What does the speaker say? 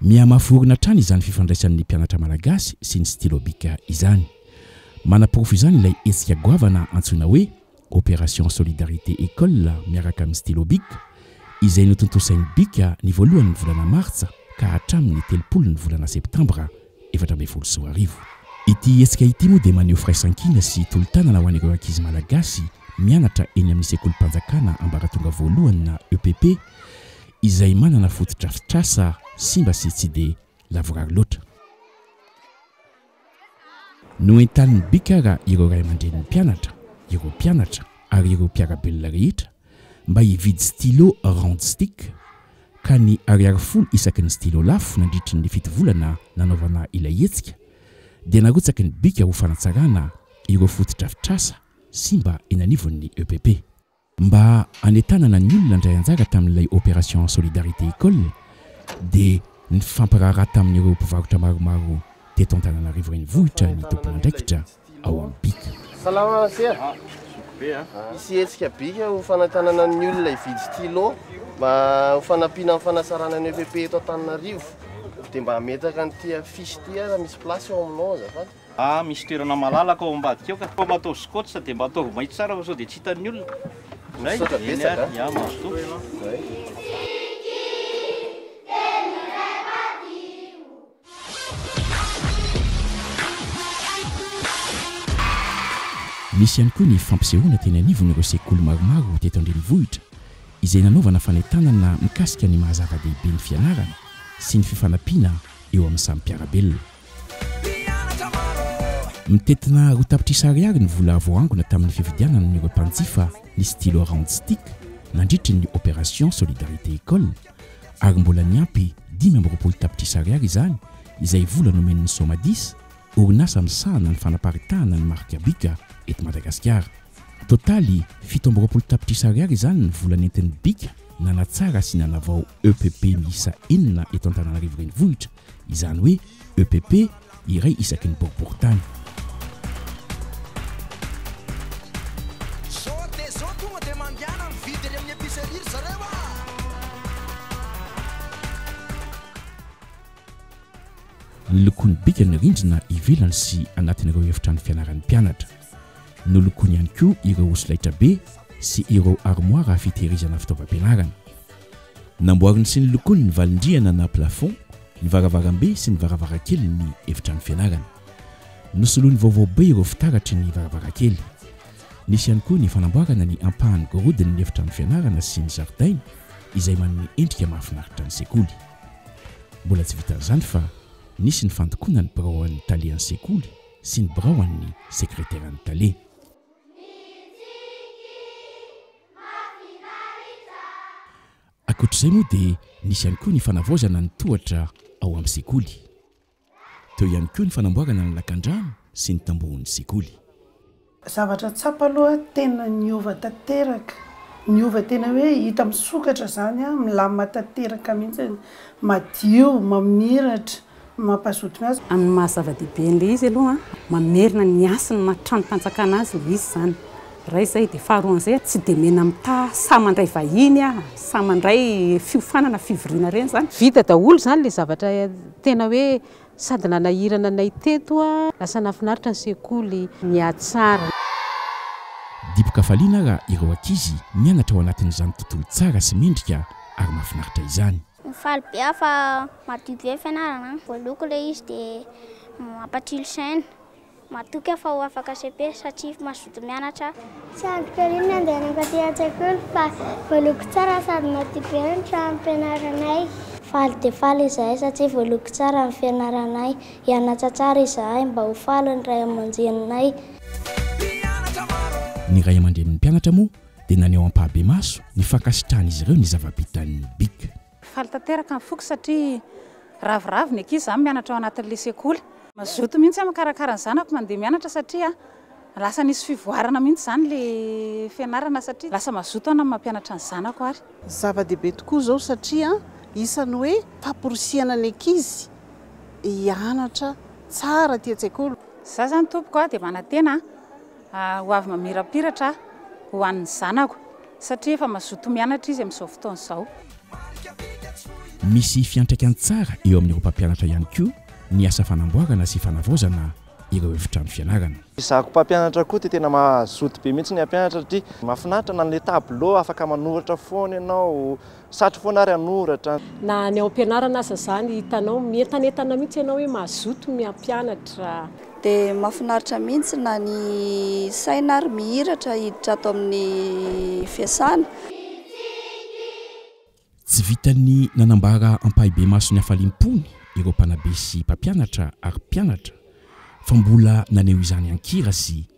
Mihamafy orina hatrany izany fifandraisan'ny mpianatra malagasy sy ny stylo bic izany. Manaporofo izany ilay hetsika goavana antsoina hoe Opération Solidarité École miaraka amin'ny stylo bic, izay notontosain'ny bic ny voalohan'ny volana martsa ka hatramin'ny telopolo ny volana septambra efatra ambin'ny folo sy roa arivo. Ity hetsika ity moa dia maneho firaisankina sy tolo-tanana ho an'ireo ankizy malagasy mianatra eny amin'ny sekolim-panjakana ambaratonga voalohany na EPP, izay manana fotodrafitrasa simba sy tsy dia lavorary loatra. Noentanin'ny BICAR ireo ray aman-drenin'ny mpianatra, ireo mpianatra ary ireo mpiara-belona rehetra mba hividy stylo round stick ka ny ariary folo isaky ny stylo lafo nandritry ny fito volana nanaovana ilay hetsika dia narotsaky ny BICAR ho fanatsarana ireo fotodrafitrasa simba eny anivon'ny EPP. Mba hanentanana ny olona handray anjara tamin'ilay Opération Solidarité École dia nifampiraharaha tamin'ireo mpivarotra maromaro teto Antananarivo Renivohitra ny tompon'andraikitra ao amin'ny bic. Salama Masera a! Hisy hetsika bic ho fanentanana ny olona hividy stylo mba ho fanampiana amin'ny fanasarana ny EPP eto Antananarivo. Dia mba ametraka an'ity affiche ity aza misy place eo aminao azafady. A, misy toerana malalaka ao ambadika ao ka. Koa mba ataovy scotch dia mba ataovy maitso tsara fa sao dia tsy hitan'ny olona. Misaotra betsaka a. Ya, mazotoa ianao. Nisy ihany koa ny fampisehoana teny anivon'ireo sekoly maromaro teto an-drenivohitra izay nanaovana fanentanana mikasika ny maha-zava-dehibe ny fianarana sy ny fifanampiana eo amin'ny samy mpiara-belona. Mitety na roa tapitrisa ariary ny vola voaangona tamin'ny fividianana ireo mpanjifa ny stylo round stick nandritra ny opération Solidarité École ary mbola niampy dimy amby roapolo tapitrisa ariary izany izay vola nomen'ny Somadis, orinasa misahana ny fanaparitahana ny marika Bika eto Madagasikara. Totaly, fito amby roapolo tapitrisa ariary izany ny vola nentin'ny Bika nanatsara sy nanavao EPP miisa enina eto Antananarivo Renivohitra. izany hoe epp iray isaky ny boriboritany. Nolokoiny bika ny rindrina ivelany sy anatin'ireo efitrano fianaran'ny mpianatra. Nolokoiny ihany koa ireo solaitrabe sy ireo armoara fitehirizana fitaovam-pianarana. Namboariny sy nolokoiny ny valin-drihana na plafond, ny varavarambe sy ny varavarankely ny efitrano fianarana. Nosoloiny vaovao be ireo fitaratry ny varavarankely. Nisy ihany koa ny fanamboarana ny ampahan'ny gorodon'ny efitrano fianarana sy ny zaridaina izay manome endrika mahafinaritra ny sekoly. Mbola tsy vitan'izany fa nisy ny fandokoana ny biraoan'ny tale an'ny sekoly sy ny biraoan'ny sekreteran'ny tale. Ankoatra izay moa dia nisy ihany koa ny fanavaozana ny tohatra ao amin'ny sekoly. Teo ihany koa ny fanamboarana ny lakandrano sy ny tambohon'ny sekoly. Zavatra tsapa aloha tena niova tanteraka, niova tena hoe hita misokatra izany, milamina tanteraka mihitsy, madio, mamiratra. mampazoto ny azy. Amin'ny maha zava-dehibe an'ilay izy aloha, mamerina ny hasin'ny maha-trano fanjakana azy ilay izy izany, iray izay, dia faharoan'izay, tsy dia mena mitaha saha mandray vahiny, saha mandray fiofanana, fivoriana ireny izany. Vita daholo izany ilay zavatra tena hoe sady nanahirana anay teto, lasa nahafinaritra ny sekoly, nihatsara. Dibo-kafaliana raha ireo ankizy mianatra ao anatin'izany tontolo tsara sy mendrika ary mahafinaritra izany. Faly be aho fa madio be ny fianarana, voaloko ilay izy dia mampatsilo saina. Matoky aho fa ho afaka cepe satria mazoto mianatra aho. Tsy andriko ery ny handehanako aty an-tsekoly fa voaloko tsara sady madio be ny tranom-pianaranay. Faly dia faly izahay satria voaloko tsara ny fianaranay. Hianatra tsara izahay mba ho faly ny ray aman-dreninay. Ny ray aman-drenin'ny mpianatra moa dia naneho ampahabemaso ny fankasitrahan'izy ireo ny zava-bitan'ny bic. Faly tanteraka ny foko satria ravoravo ny ankizy izany mianatra ao anatin'ilay sekoly. Mazoto mihitsy aho mikarakara ny zanako mandeha mianatra satria lasa nisy fivoarana mihitsy izany ilay fianarana satria lasa mazoto aho na ny mampianatra ny zanako ary. Zava-dehibe tokoa izao satria isan'ny hoe famporisihana ny ankizy hianatra tsara aty an-tsekoly. Za izany tompoko dia manantena Ho avy mamirapiratra aho ho an'ny zanako, satria efa mazoto mianatra izy amin'izao fotoana izao. Misy fiantraikany tsara eo amin'ireo mpampianatra ihany koa ny asa fanamboarana sy fanavaozana ireo efitrano fianarana. Izaho mpampianatra koa dia tena mazoto be mihitsy ny hampianatra satria mahafinaritra na ilay tableau afaka manoratra foana ianao, Satry foana ary hanoratra. Na any ampianarana aza zany hitanao mientanentana mihitsy ianao hoe mazoto ny hampianatra. Dia mafinaritra mihitsy na ny saina ary mihiratra hiditra ato amin'ny fiasana. Tsy vitan'ny nanambara ampahibemaso ny hafaliam-pony ireo mpanabe sy mpampianatra ary mpianatra fa mbola naneho izany an-kira sy.